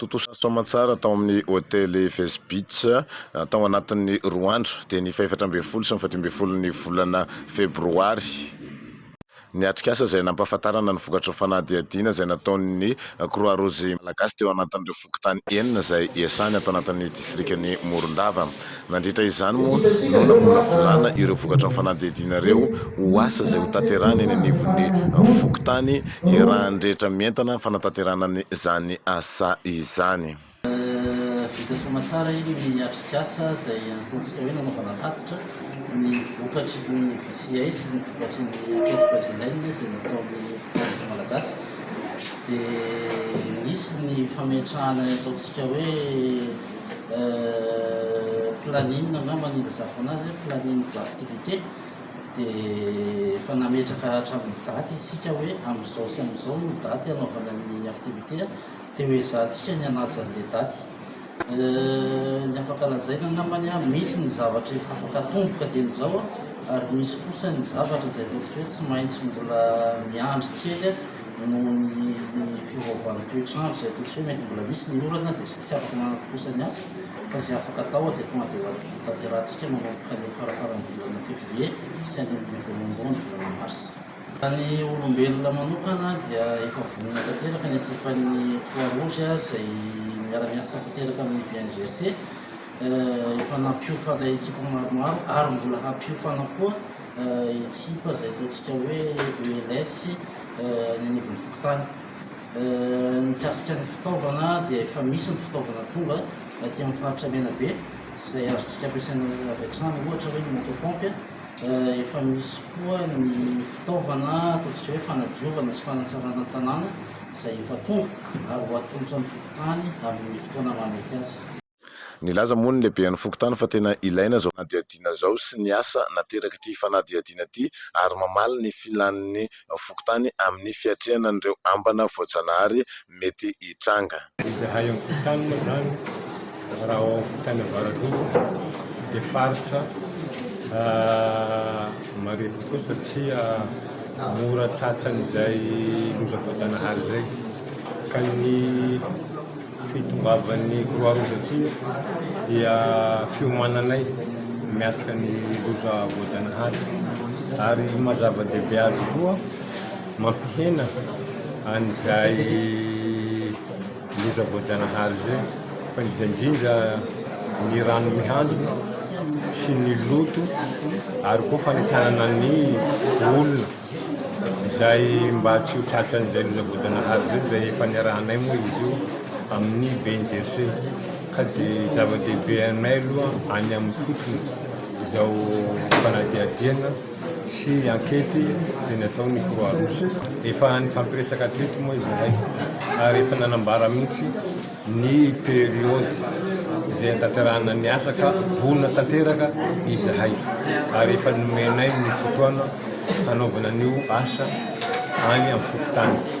Tontosa soamantsara tao amin'ny hotely Face Beach tao anatin'ny roa andro dia ny fahefatra ambin'ny folo sy ny fahadimy ambin'ny folon'ny volana febroary. Ny atrikasa izay nampahafantarana ny vokatry ny fanadihadiana izay nataon'ny Croix Rouge Malagasy teo anatin'ireo fokontany enina izay iasany ato anatin'ny distrikan'i Morondava. Nandritra izany moa no namolavolana ireo vokatra ny fanadihadiana ireo ho asa izay ho tanterahina eny anivon'ny fokontany iarahany rehetra mientana ny fanatanterahana izany asa izany. Vita soa aman-tsara iny ny atrikasa izay ataontsika hoe nanaovana tatitra ny vokatry ny VCI sy ny vokatry ny Enquête Brésilienne izay nataon'ny Fokonology Malagasy dia nisy ny fametrahana ny ataontsika hoe planning angamba no ilazako anazy hoe planning d'activité dia efa nametraka hatramin'ny daty isika hoe amin'izao sy amin'izao no daty hanaovana ny activité dia ho ezahantsika ny hanaja an'ilay daty ny afaka lazaina angamba ny an misy ny zavatra efa afaka atomboka dia ny izao ary misy kosa ny zavatra izay ataontsika hoe tsy maintsy mbola miandry kely Noho ny fiovaovan'ny toetr'andro izay atolotra hoe mety mbola misy ny orana dia tsy afaka manatontosa ny asa fa izay afaka atao dia tonga dia hotanterahantsika manomboka ny faraparan'ny volana février sy andimbin'ny voalohandohan'ny volana mars. Raha ny olombelona manokana dia efa vonona tanteraka ny ekipan'ny Croix Rouge izay miara-miasa tanteraka amin'ny BNGRC. Efa nampiofana ekipa maromaro ary mbola hampiofana koa. Ekipa izay ataontsika hoe ELS any anivon'ny fokontany. Mikasika ny fitaovana dia efa misy ny fitaovana tonga aty amin'ny faritra Menabe izay azontsika ampiasaina avy hatrany, ohatra hoe ny moto pompe. Efa misy koa ny fitaovana ataontsika hoe fanadiovana sy fanatsarana ny tanàna izay efa tonga ary ho atolotra ny fokontany amin'ny fotoana mahamety azy. Nilaza moa ny lehiben'ny fokontany fa tena ilaina izao fanadihadiana izao sy ny asa naterak'ity fanadihadiana ity ary mamaly ny filàn'ny fokontany amin'ny fiatrehana an'ireo ambana voajanahary mety hitranga. Izahay amin'ny fokontany moa izany, raha ao amin'ny fokontany Ambaratonga dia faritra marefo tokoa satria mora tsatsan'izay loza voajanahary izay ka ny Fitongavan'ny Croix Rouge aty dia fiomananay miatrika ny loza voajanahary ary maha zava-dehibe azy koa mampihena an'izay loza voajanahary izay fa indrindra indrindra ny rano mihandrona sy ny loto ary koa fanentanana ny olona. izay mba tsy ho tratran'izay loza voajanahary izay, izay efa niarahanay moa izy io amin'ny BNGRC, ka dia zava-dehibe aminay aloha any amin'ny fotony izao fanadihadiana sy ankety izay nataon'ny Croix Rouge. Efa nifampiresaka hatreto moa izahay ary efa nanambara mihitsy. ny periody izay hanatanterahana ny asa ka vonona tanteraka izahay ary efa nomenay ny fotoana hanaovana an'io asa any amin'ny fokontany.